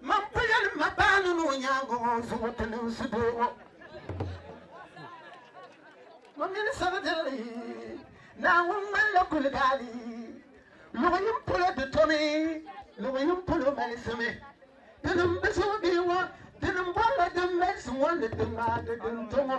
Man ku yɛli ma baanu ni o nyaaŋa ŋɔ zuŋ o ti niŋ sudoo ŋɔ. Mo mini sabi dirili Naawuni ŋmanila guligaali. Luɣ yini polo di domi, luɣ yini polo malisimi. Dinim bi zuɣu bee ŋɔ, dinim bɔrila din malisi ŋɔ ni di ŋmaagi din do ŋɔ.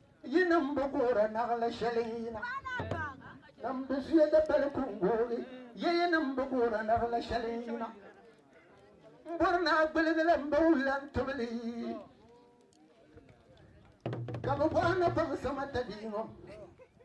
Yi nim bi guhiri naɣili shɛli n yina. Nim bi zuya da pali kungoogi. Ye yi nim bi guhiri naɣili shɛli n yina. N bɔri ni a gbuligi la n ba wulan tibili. Ka bi bɔhi ni baŋsim a tabiiŋɔ.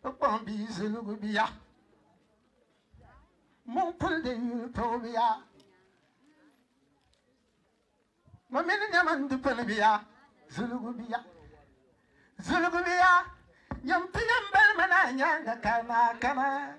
Kpukpɔŋ bia zilgu bia mɔŋ kuli din yuli toobiya ma mini nyɛma n di pili bia zilgu bia zilgu bia nyɛm ti yɛn bali ma naa nyaanga ka naa kana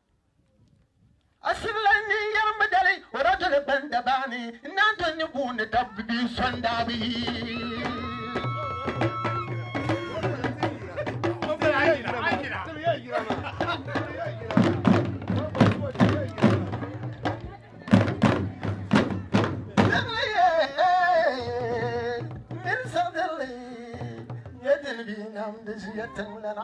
A sibila ni yɛri mi dali o daa toli ban da baa ni n naan toli ni buun ni da bi son daa bi yi. Min sabili nyɛ dini bi nam di zuya tiŋlana.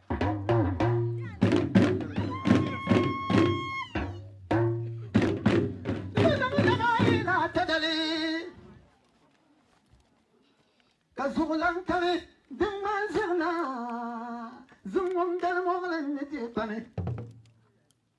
ka zuɣulan kami din ŋman zirina zuŋum dali muɣilin ni dee kpami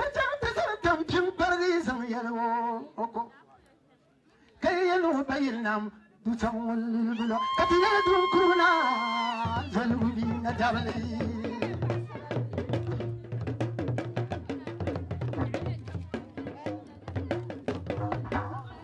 O zaŋ ti zali kam pim kparigi zaŋ yɛli o o ko ka yi yɛli o ba yili nam du zaŋ o lilibila ka ti yɛli dun kuru na zaligu bi na dabili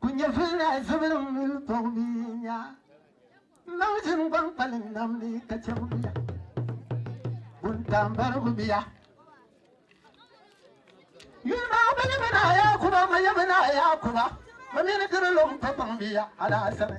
Ku nyɛ vilinaa zubilim mini tɔg bia nya. Nam zim gbaŋ kpalim nam ni ka chɛbu bia. Buntaambarigu bia. Yuli maa bi ni mi naa Yaakuba, ma yɛmi naa Yaakuba, ma mi ni diri lɔŋ pa kpaŋ bia alaasani.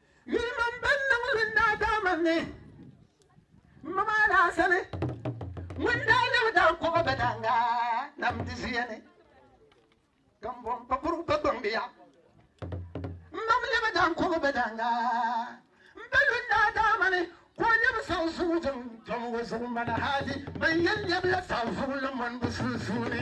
Yuli mini bɛn niŋ li n-daa daa man ni m ma maa daa sani. Ŋun daa lɛbi daa kɔba bɛ daaŋa nam di zuya ni ka m bo m pa kurugu pa gbaŋ bɛ ya. M mam lɛbi daa kɔba bɛ daaŋa m pa lu n-daa daa man ni. Ka o lɛbi zaŋ zuŋɔ zaŋ dɔm o zuɣu mali hali ban yɛn lɛbila zaɣ zuŋɔ la mɔnibu sunsuuni.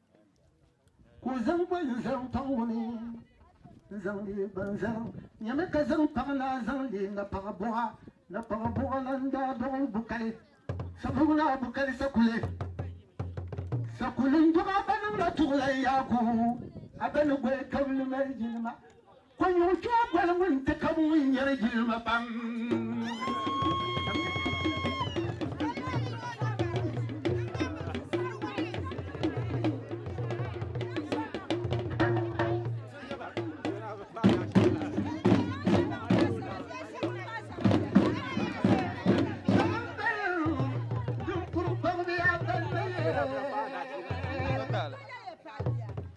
ku zaŋ ba n zaŋ paŋ o ni n zaŋ leei ba n zaŋ nyɛmi ka zaŋ paŋ naa zaŋ leei na paɣa buɣa na paɣa buɣa la n daa dɔɣi bukali sabugu naa bukali sakuli sakuli n dɔɣi a ba niŋla tuɣula yaaku a ba ni goli tɔbili mali jinima Ko nyuɣu chuɣu boli ŋun ti ka ŋun nyɛri jilima pam.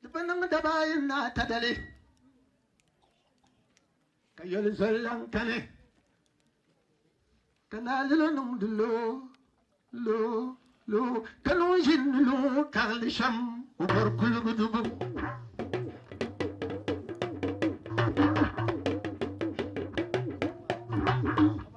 Di bi niŋ daba ayi ni ata dali ka yoli zoli lan kani ka naa lilo niŋdi loo loo loo ka niŋ ʒinni loo karili shɛm o bɔri kuligu dubu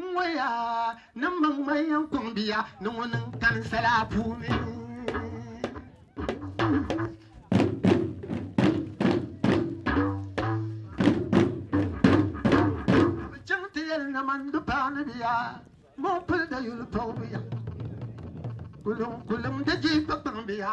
N ŋɔ ya ni m maŋ maŋ yɛn kɔŋ bia ni ŋɔ niŋ kani sala puuni. namandi paani biya mɔpili da yuli pɔgu biya kuliŋ kuliŋ di ji kpakpaŋ biya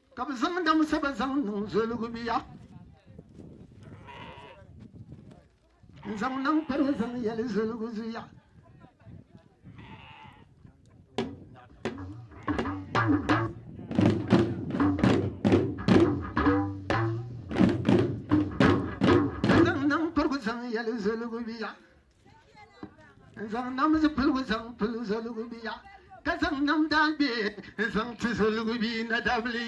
Ka bi zaŋ dam saba zaŋ niŋ zoligu biya n zaŋ naŋ kpari zaŋ yɛli zoligu zuya zaŋ naŋ kparigu zaŋ yɛli zoligu biya n zaŋ nam zipiligu zaŋ pili zoligu bia ka zaŋ nam daagbe n zaŋ ti zoligu bia na dabili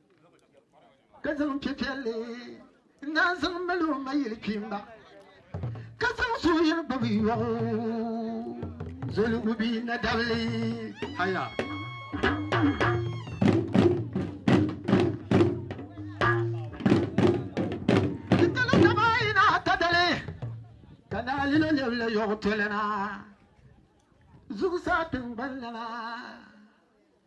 ka zaŋ piɛpiɛlli naan zaŋ mali o ma yili kpimba ka zaŋ suhuyini gbubi yɔɣu zoligu bia na dabili haya kitali dama ina ta dali ka naalilo lɛbila yɔɣu tolana zuɣusaa tiŋgbani lana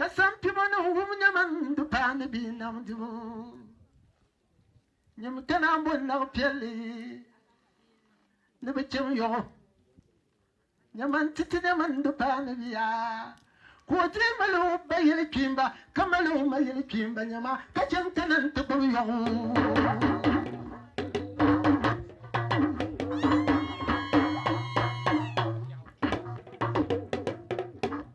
Ka sampimo ni wum nyɛma n-di paani bia nam dibu. Nyim ka naan bɔ nag piɛlli ni bi chɛm yɔɣu. Nyɛma n-ti ti nɛma n-di paani bia. Ka o dii mali o ba yili kpiimba ka mali o ma yili kpiimba nyɛma ka chɛ n-kana n-ti gbubi yɔɣu.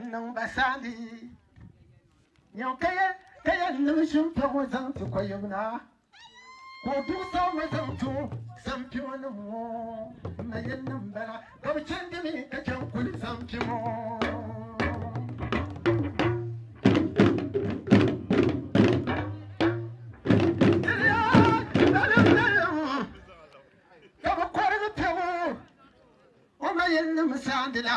N niŋ ba saani nyɛm ka yɛ ka yɛ n niŋ shinkpɛ ŋɔ zaŋ ti kɔyib na ka o duɣu saɣi ma zaŋ ti o sampimo nim ŋɔ n ma yɛn niŋ bala ka bi chɛndi mi ka chɛn kuli sampimo ka bi kɔrigi pɛbu o ma yɛn niŋ saani la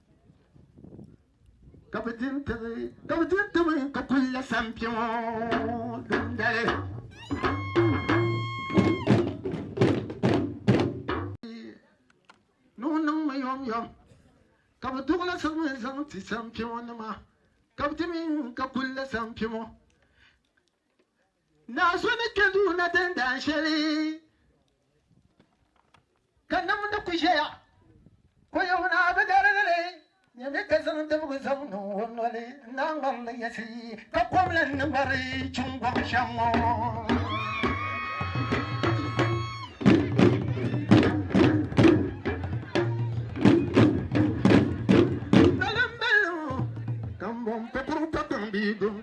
ka bi din timi ka bi din timi ka kuli la sampi ŋɔ dundali nuu niŋmi yom yom ka bi duɣula sami zaŋ ti sampi ŋɔ nima ka bi timi ka kuli la sampi ŋɔ Naa so ni kpe duu na tin daan shɛli ka nam ni ku ʒɛya ko yom naa bi garigi li nyami ka zaŋ dibigu zaŋ niŋ o noli n-naa ŋmari li yɛsi ka kom lan ni ŋmari chuŋ gɔbu shɛm ŋɔ. Dalim balibu ka m-bɔŋ pa puru pa kpaŋ bia gom.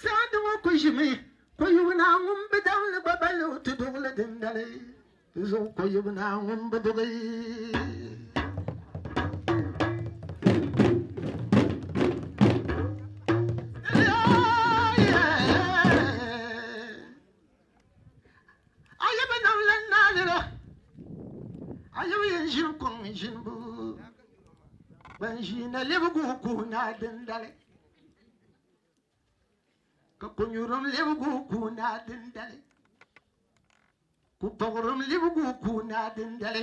Saadu ŋɔ ku ʒimi Koyibu naa ŋun bi daŋ li gba bali o ti duɣili dindali di zuɣu Koyibu naa ŋun bi duɣi. A yi bi nam lan naa lira, a yi bi yɛn ʒini kɔŋ ʒinibu, ban ʒii na lebigu kuhi naa dindali, ka konyurim lebigu kuhi naa dindali, kupɔɣirim lebigu kuhi naa dindali.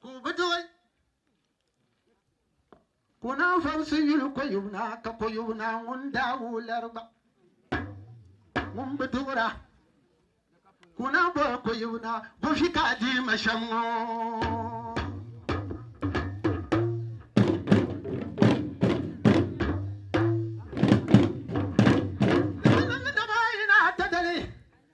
Ka o bi duɣi. Ka o naan vabisi yuli koyub naa, ka koyub naa ŋun daa wuhi lari gba ŋun bi duɣira. Ka o naan boli koyub naa, Bo fi ka a dii ma shɛm ŋɔ?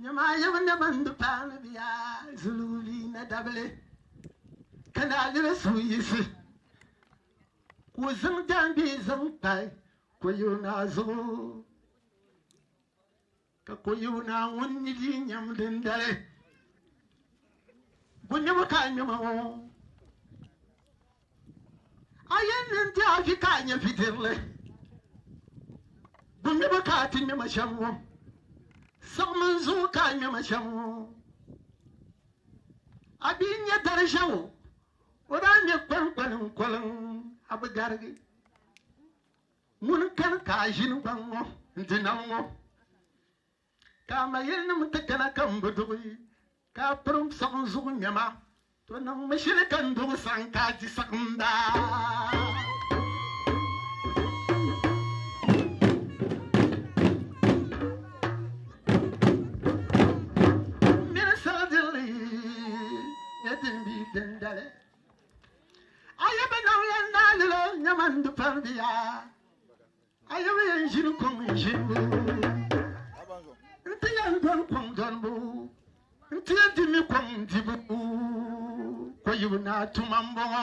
Nyɛmaa yɛbu ni bɛ ni di paanu bɛ ya zulubi ni dabili ka ni a liri suhu yiɣisi ka o zaŋ jaangbee zaŋ kpa Koyoo Naa zuɣu ka Koyoo Naa ŋun ni dii nyam dindali bɔ nyɛbu ka a nyɛma ŋɔ. A yɛn ni n ti a vi ka a nyɛ vidirili, bu ŋmɛbu ka a ti ŋmɛ ma shɛm ŋɔ? Siɣimi n zuɣu ka a ŋmɛ ma shɛm ŋɔ. A bi nya dari ʒiɛɣu, o daa ŋmɛ kɔlinkɔli n koliŋ, a bi garigi. Ŋuni n kani ka a ʒini gbaŋ ŋɔ n-di nam ŋɔ? Ka a ma yilinim ti kana ka m bi duɣi, ka a pirim saɣim zuɣu nɛma, to niŋ mi shili ka n duɣi saɣim ka a di saɣim baa. A yɛm yɛn ʒini kɔŋ ʒinibu N-ti yɛn dɔni kɔŋ dɔnibu N-ti yɛn di mi kɔŋ dibu Ko yibu naa tuma m-bɔŋɔ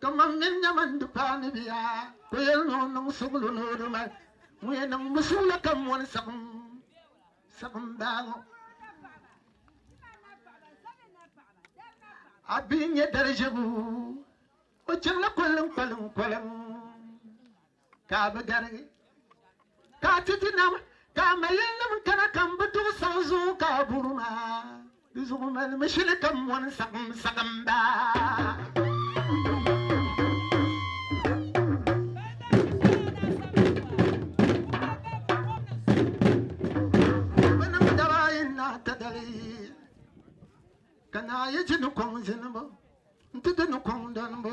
Kaman mini nyama n-di paani bia, ka o yɛli ni o niŋ suɣulo ni o di ma li. Ŋun yɛn niŋ bi suɣulo ka mɔni saɣim saɣim baa ŋɔ, a bi nya dari ʒiɛbu, o chaŋla koliŋkoliŋ koliŋ. Ka a bi gari, ka a ti ti nam, ka a mayilinim kana ka m bi duɣi saɣi zuɣu ka a buri ma. Di zuɣu mali mi shili ka m mɔni saɣim saɣim ba. Binim daba ayi na ti dali, ka naa yi ji ni kɔŋ zinibu nti di ni kɔŋ donibu.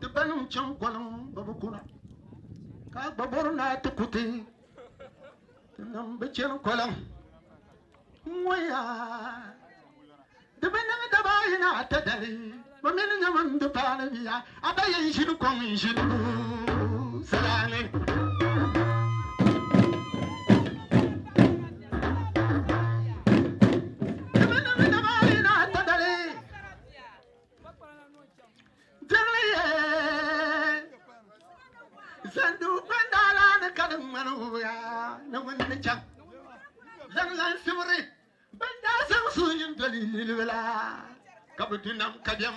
Di ba nim chaŋ gɔliŋ bɛ bi kuna ka a gba bɔri naa ti ku ti ti nim bi chani gɔliŋ ŋɔya di bi niŋ daba ayi ni ata dali bɛ mi ni nyɛmi n di paani biya a ba yɛn ʒini kɔŋ n ʒini lu salaani. Jiŋli yɛn zandi o kpandala ni ka di ŋmani o ya ni ŋun ni chaŋ zaŋ lan sibiri ban daa zaŋ suyin doli niriba la ka bi du nam ka bɛm.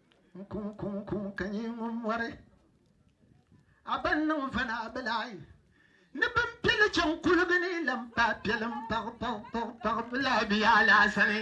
N-kuŋ-kuŋ-kuŋ ka nyɛ ŋun mɔri a ban niŋ vana a bilahi ni bɛn piɛ li chaŋ kuligi ni lan paai piɛlim paɣi paɣi paɣi paɣi bilahi bɛ yaa laasani.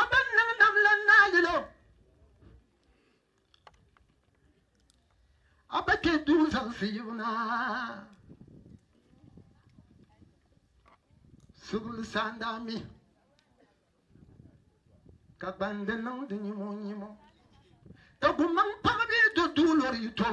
A bɛn niŋ nam la naa yɛl o, A ba kpe duu zaŋsi yibu na. Subili saan daa mi ka gbandi niŋdi nyimo nyimo ka gumaŋ paɣibi do duulori yi too.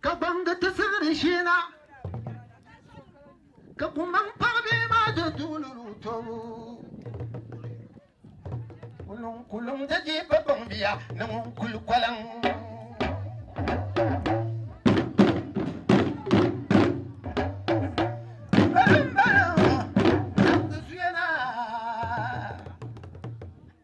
Ka gbaŋgi ti siɣiri sheena, ka kumbaŋ paɣ bia maa do duɣili lu tɔbu. Kuluŋ kuluŋ da je ba gbaŋ bia ni ŋun kuli kɔliŋ.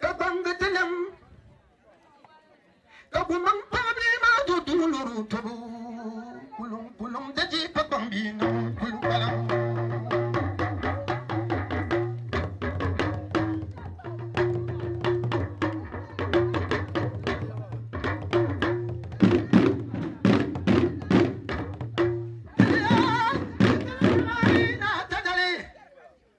Ka gbaŋgi ti nam, ka gumaŋ paɣ bia maa do duu lɔr o tobu. Kuluŋ kuluŋ di dihi ka gbaŋ bia maa kuli kpalim.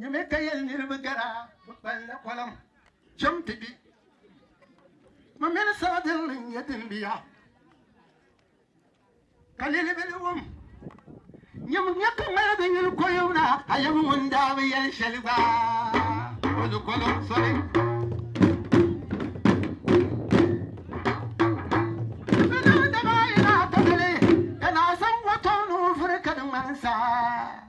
Nyame ka yɛli niriba gara bɛ kpalila kɔlim cham ti gbi ma mini sabadilli n-nyɛ din bi ya ka lilibili wum nyam nya ka ŋmali bi yuli kɔlim na a yɛm ŋun daa bi yɛli shɛli gba o ni kɔlim soli Ka naa zaŋ watom ni o vuri ka di ŋmani saa